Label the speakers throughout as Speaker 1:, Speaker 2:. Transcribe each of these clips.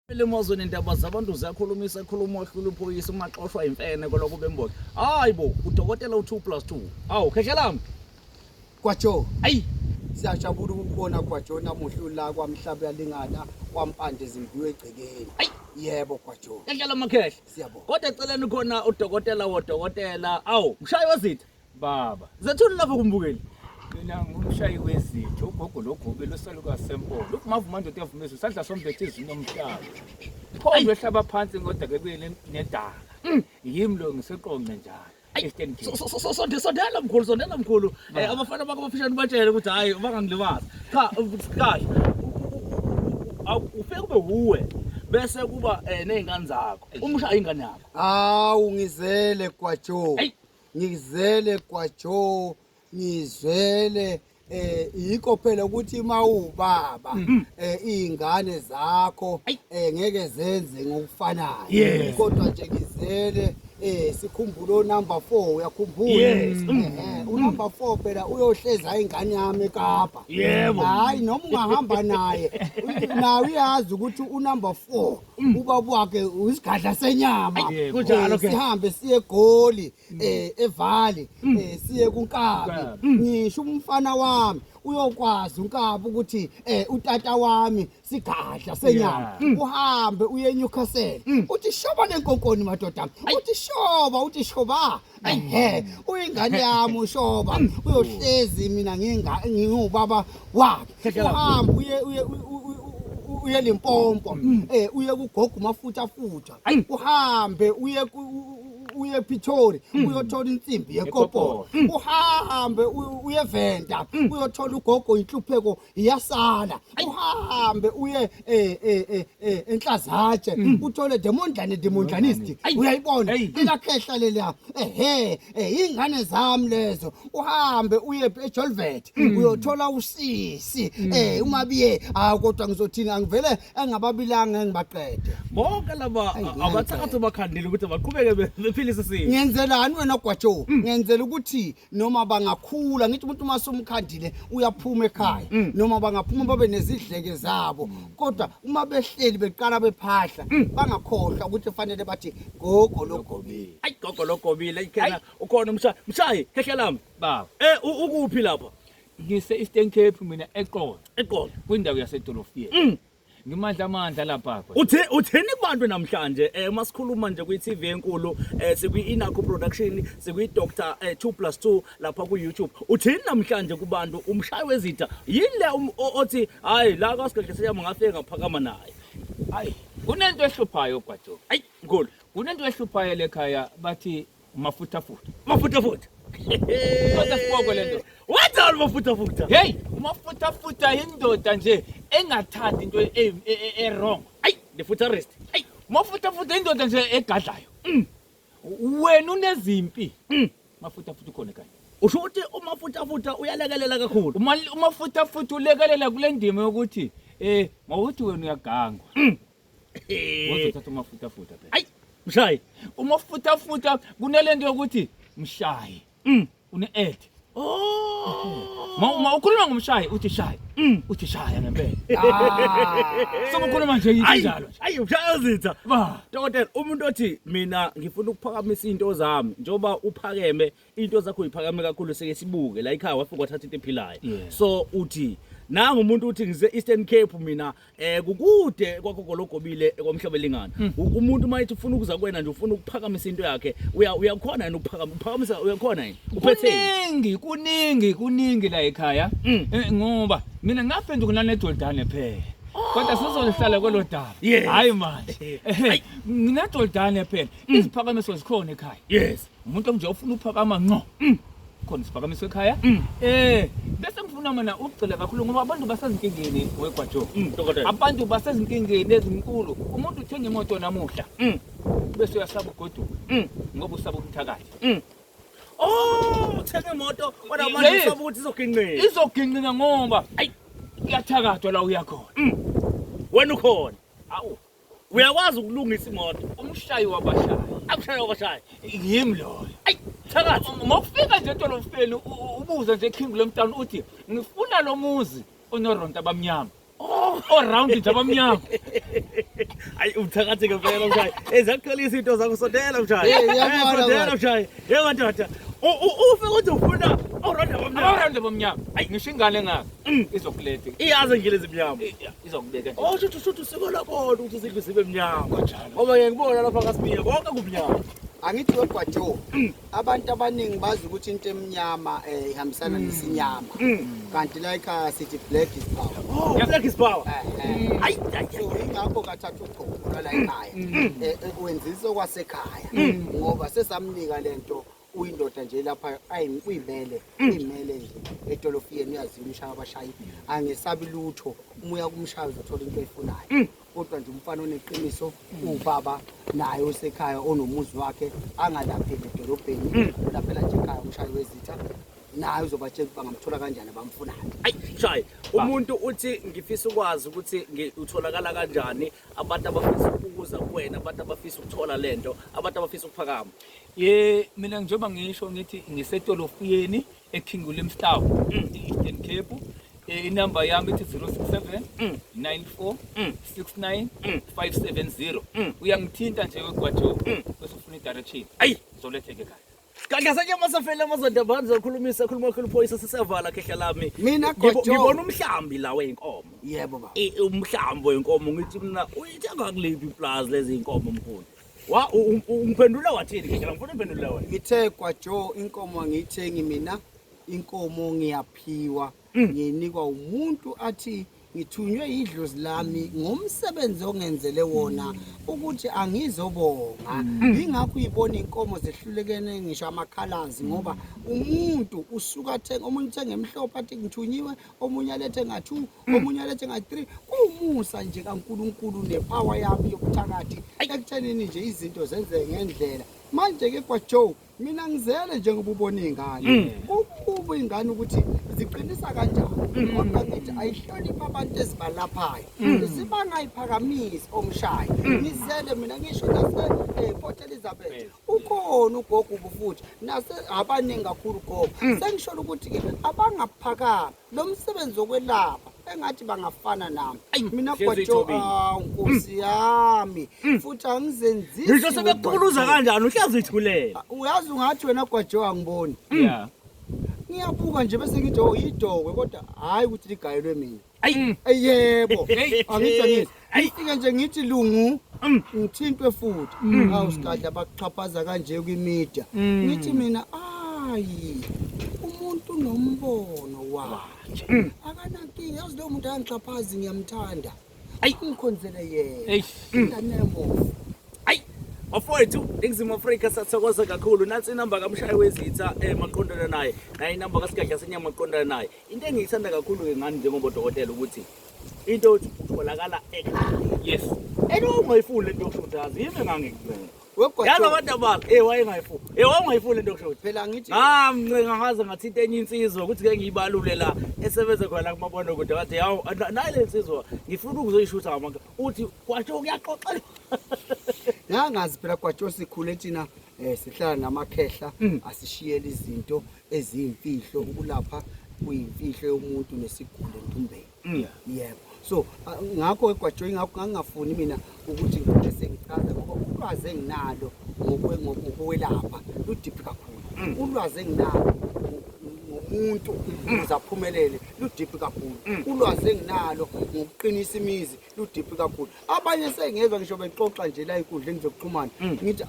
Speaker 1: Limozo nendaba zabantu ziyakhulumisa ekhuluma ohlula uphoyisa uma xoshwa imfene koloko bemboza. Hayi bo, udokotela u2 plus 2. Awu, khehla lami. Kwajo.
Speaker 2: Ayi,
Speaker 1: siyajabula
Speaker 2: ukubona Kwajo namuhla la kwamhlaba yalingana kwampande zimbiwe egcekeni. Ayi, yebo Kwajo. Khehla lamakhehla.
Speaker 1: Siyabonga. Kodwa eceleni
Speaker 2: khona
Speaker 1: udokotela wodokotela. Awu, mshayi wezitha. Baba, zathula
Speaker 3: lapho kumbukeli.
Speaker 1: Mina ngumshayi
Speaker 3: wezitho, ugogo logobe losaluka sempolo. Ukuvuma ndoda yavumezwe sadla sombethe izinomhlaba. Phondo ehlaba phansi ngoda ke kuye nedala. Mm. Yimi lo ngiseqonqe njalo. Eastern Cape. So- so- so- sonde- sondela mkhulu sondela
Speaker 1: mkhulu Eh, abafana bakho bafishane ubatshele ukuthi hhayi bangangilimazi cha u- kahle U- u- u- awu- ufike kube wuwe bese kuba um ney'ngane zakho umshaye ingane yakho Hawu
Speaker 2: ngizele kwaJoe. Ayi.
Speaker 1: ngizele
Speaker 2: kwajo ngizwele eh yikho phela ukuthi mawubaba mm. eh izingane zakho eh ngeke zenze ngokufanayo kodwa nje ngizele eh sikhumbula onumber 4 uyakhumbula yes. Mm. Eh, eh, mm. unumber 4 phela uyohleza ingane yami eKapa yebo hayi noma ungahamba naye nawe uyazi ukuthi unumber 4 Mm. ubaba wakhe uyisigadla senyama Yeah, kunjalo Eh, ke. sihambe
Speaker 1: siye egoli
Speaker 2: eh evali Mm. eh siye kunkabi ngisho umfana wami uyokwazi unkabi ukuthi eh utata wami sigadla senyama Mm. uhambe uye eNewcastle uthi shoba lenkonkoni madoda uthi shoba uthi shoba Ayhe, uyingane yami ushoba. Uyohlezi mina nginga ngingubaba wakhe. Uhamba uye uye uye lempompo. Eh uye kugogo mafutha futha. Uhambe uye uye ePitori hmm. uyothola insimbi yekoporo hmm. uhambe uyeventa hmm. uyothola ugogo inhlupheko iyasala uhambe uye eh eh eh, eh enhlazatshe mm. uthole demondlane demondlanist uyayibona ikakhehla lelia ehe eh, ingane zami lezo uhambe uye eJolvet mm. uyothola usisi mm. eh uma biye ah kodwa ngizothini angivele engababilanga ngibaqede bonke laba
Speaker 1: abacakathi bakhandile ukuthi baqhubeke bephilise sisi ngenzelani wena gwajo
Speaker 2: ngenzela ukuthi noma bangakhula ngithi umuntu uma sumkhandile uyaphuma ekhaya mm. noma bangaphuma babe nezidleke zabo mm. kodwa uma behleli beqala bephahla mm. bangakhohlwa ukuthi fanele bathi gogo logobile ayi gogo logobile
Speaker 1: ayikhena ukhona umshayi mshayi khehla lami baba eh
Speaker 3: ukuphi lapha
Speaker 1: ngise Eastern
Speaker 3: Cape mina eqolo eqolo kwindawo
Speaker 1: yasedolofiyeni
Speaker 3: ngimandla amandla lapha uthe utheni kubantu
Speaker 1: namhlanje eh uma sikhuluma nje kwi TV enkulu eh sikwi Inaku production sikwi Dr 2 plus 2 lapha ku YouTube utheni namhlanje kubantu umshayi wezitha yini le um, othi hayi la kwasigedle seyama ngafike ngaphakama naye hayi
Speaker 3: kunento ehluphayo gwajo ayi ngolo
Speaker 1: kunento ehluphayo
Speaker 3: lekhaya bathi Umafuthafutha. Umafuthafutha. Kodwa siboko lento. What are umafuthafutha?
Speaker 1: Hey,
Speaker 3: umafuthafutha indoda nje engathandi into e, e, e, e wrong. Ay, the
Speaker 1: futurist. Ay, umafuthafutha indoda
Speaker 3: nje egadlayo. Mm. Wena unezimpi. Mm. Mafuthafutha ukhona kanye. Usho ukuthi
Speaker 1: umafuthafutha uyalekelela kakhulu. Uma umafuthafutha
Speaker 3: ulekelela kule ndima yokuthi eh mawuthi wena uyagangwa. Mm. Waze uthatha umafutafuta phela. Ayi, mshayi.
Speaker 1: Umafutafuta
Speaker 3: kunelento yokuthi mshayi. Mm. Une add. Oh. Ma uma ukhuluma ngomshayi uthi shayi. Mm. Uthi shaya ngempela. Ah. So ukhuluma nje injalo. Ayi, mshayi uzitha.
Speaker 1: Ba. Dokotela,
Speaker 3: umuntu othi
Speaker 1: mina ngifuna ukuphakamisa into zami njoba uphakeme into zakho iphakame kakhulu seke sibuke la ikhaya wafika wathatha into ephilayo Yeah. so uthi nangu umuntu uthi ngise Eastern Cape mina eh kukude kwakho gologobile kwamhlabelingana Hmm. U- umuntu mayithi ufuna ukuza kwena nje ufuna ukuphakamisa into yakhe uya uyakhona yini ukuphakama uphakamisa uyakhona yini uphethe kuningi kuningi kuningi
Speaker 3: la ekhaya Mm. Eh, ngoba mina ngaphenduka nanedodane phela kodwa sizolihlala kwelo daba Yes. hayi manje Ehe, nginedodane phela iziphakamiso zikhona ekhaya yes umuntu onje
Speaker 1: ufuna
Speaker 3: uphakama nqo mm. khona isiphakamiso ekhaya mm. eh bese ngifuna mina ukugcila kakhulu ngoba abantu basezinkingeni wegwajo mm, abantu
Speaker 1: basezinkingeni
Speaker 3: ezinkulu umuntu uthenga imoto namuhla bese uyasaba ugoduka ngoba usaba umthakathi oh
Speaker 1: uthenga imoto kodwa manje usaba ukuthi izogingqina izogingqina
Speaker 3: ngoba ayi kuyathakathwa la uyakhona wena
Speaker 1: ukhona awu
Speaker 3: Uyakwazi
Speaker 1: ukulungisa imoto. Umshayi wabashayi.
Speaker 3: Akushaye wabashayi.
Speaker 1: Yimi loyo.
Speaker 3: Ayi thakathi.
Speaker 1: Uma ufika nje
Speaker 3: edolofeni ubuze nje King Lomtown uthi ngifuna lo muzi onoronta abamnyama. Oh, around
Speaker 1: nje
Speaker 3: abamnyama. Ayi
Speaker 1: uthakathi ke phela mshayi. Ezakutholisa into zakho sondela mshayi. Eh, eh, sondela mshayi. Yebo ndoda. Ufe ukuthi ufuna oronda abamnyama. Oronda abamnyama. Ayi
Speaker 3: ngisho ingane ngaka. Mm. Izokulethe. Iyazi ngile
Speaker 1: zimnyama. Eh, izokubeka nje
Speaker 3: oh shuthu shuthu siko lakho
Speaker 1: ukuthi izindlu zibe mnyama ngoba ngeke ngibona lapha kaSibiya konke kumnyama angithi wegwajo
Speaker 2: mm. abantu abaningi bazi ukuthi into emnyama eh ihambisana mm. nesinyama mm. kanti like uh, sithi black is power oh yeah. black is power
Speaker 1: eh, eh. hayi so ingakho
Speaker 2: kathatha ugqoka la ekhaya eh, ekwenzisa kwasekhaya ngoba sesamnika lento uyindoda nje lapha ayi uyimele mm. uyimele nje etolofiyeni uyazini ushaya abashayi angesabi lutho uma uya kumshaya uzothola into eyifunayo mm. kodwa nje umfana oneqiniso mm. ubaba naye osekhaya onomuzi wakhe angalapheli edolobheni ulaphela nje ekhaya umshayi wezitha naye uzobatshela ukuthi bangamthola kanjani abamfunayo ayi shayi
Speaker 1: umuntu uthi ngifisa ukwazi ukuthi utholakala kanjani abantu abafisa ukuza kuwena abantu abafisa ukuthola lento abantu abafisa ukuphakama ye mina
Speaker 3: njengoba ngisho ngithi ngisetolofiyeni eKing William Town mm. e-Eastern Cape eh, inamba yami ithi 067 94 69 570 uyangithinta nje wegwajo bese ufuna i-direction ayi zoletheke
Speaker 1: kahle
Speaker 3: Gadlasanye masafele
Speaker 1: amazoda bani zokhulumisa khuluma khulu phoyisa sisevala khehla lami. Mina Ngibo- gojo. Ngibona
Speaker 2: umhlambi
Speaker 1: la wenkomo. Yebo baba. I-
Speaker 2: Umhlambi wenkomo
Speaker 1: ngithi mina uyithenga kuliphi iplaza lezi inkomo mkhulu. Wa u- u- u- ungiphendula wathini khehla ngifuna uphendule wena. Ngithe kwaJo
Speaker 2: inkomo angiyithengi mina. Inkomo ngiyaphiwa. Mm. ngiyinikwa umuntu athi ngithunywe yidlozi lami ngomsebenzi ongenzele wona ukuthi angizobonga mm. yingakho uyibona inkomo zehlulekene ngisho amakhalazi ngoba umuntu usuka athenga omunye uthenga emhlophe athi ngithunyiwe omunye alethe nga-two mm. omunye alethe nga-three kuwumusa nje kankulunkulu nepawa yami yokuthakathi ekuthenini nje izinto zenzeke ngendlela manje-ke kwajoe mina ngizele njengoba ubona iy'ngane mm. kukuba iy'ngane ukuthi ziqinisa kanjani mm. kodwa ngithi ayihloniphi abantu ezibalaphayo mm. zibangayiphakamisi omshayo ngizele mina ngisho nase-port eh, elizabeth ukhona ugogo ubufuthi nase abaningi kakhulu gogo sengisholo ukuthi-ke abangaphakami lo msebenzi wokwelapha engathi bangafana nami Ayi, mina hlezi gwajo ithobile. ah, nkosi yami futhi angizenzisi ngisho sebekuquluza
Speaker 1: ngogwajo. kanjani uhlezi ithulela uyazi ungathi wena
Speaker 2: gwajo angiboni ya ngiyabuka nje bese ngithi oh yidokwe kodwa hhayi ukuthi ligayelwe mina ayi Ey, yebo Hey. angithi angithi Ayifike nje ngithi lungu mm. ngithintwe futhi. Mm. Awu sikadla bakuxhaphaza kanje kwimedia. Mm. Ngithi mina ayi umuntu nombono wakhe. Akanankinga yazi lo muntu angixhaphazi ngiyamthanda. Ayi ungikhonzele yena. Eish. Ingane yabo.
Speaker 1: bafowethu eningizimu afrika sathokoza kakhulu nansi inamba kamshayi wezitha um maqondana naye naye inamba kasigadla senyama maqondana naye into engiyithanda kakhulu-ke ngani njengobodokotela ukuthi into othi utholakala ekhaya yes
Speaker 3: and wawungayifuni
Speaker 1: lento yokushuthi azi yimi engangikucela yazi abantu
Speaker 2: abakho e
Speaker 1: wayengayifuni e wawungayifuni lento yokushuthi phela ngithi ngamncenga
Speaker 2: ngaze
Speaker 1: ngathinta enye insizwa ukuthi ke ngiyibalule la esebenze khona kumabona kude wathi yawu nayi le nsizwa ngifuna ukuzoyishutha ngamanga uthi kwasho kuyaxoxela
Speaker 2: nangazi phela kwasho sikhule thina um sihlala namakhehla mm. asishiyele izinto eziyimfihlo ukulapha kuyimfihlo yomuntu nesigulo entumbeni mm. yebo so ngakho egwajoyi ngakho ngangingafuni mina ukuthi ngike sengichaza ngoba ulwazi enginalo ngokwelapha ludip kakhulu mm. ulwazi enginalo umuntu ukuze aphumelele ludiphi kakhulu mm. ulwazi enginalo ngokuqinisa imizi ludiphi kakhulu abanye sengezwa ngisho bexoxa nje la inkundleni zokuxhumana mm. ngithi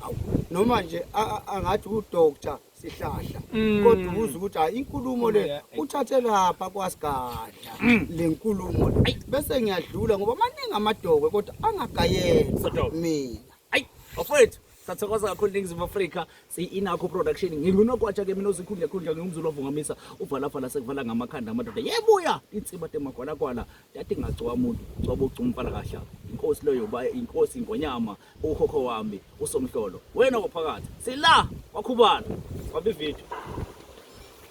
Speaker 2: noma nje angathi udoctor sihlahla mm. kodwa ubuza ukuthi hayi inkulumo le uthathe lapha kwasigadla mm. le nkulumo le bese ngiyadlula ngoba maningi amadokwe kodwa angagayela mina ayi bafowethu
Speaker 1: sathokoza kakhulu ningizimu afrika siyi-inakho production ngingunokwatsha ke mina ozikhundla khundla ngingumzulu ovungamisa uvalafala sekuvala ngamakhanda amadoda yebuya insiba temagwalagwala tati ngagcowa muntu gcoba ugcumfana kahla inkosi leyo inkosi ingonyama Ukhokho wami uSomhlolo wena waphakathi sila wakhubala wabividio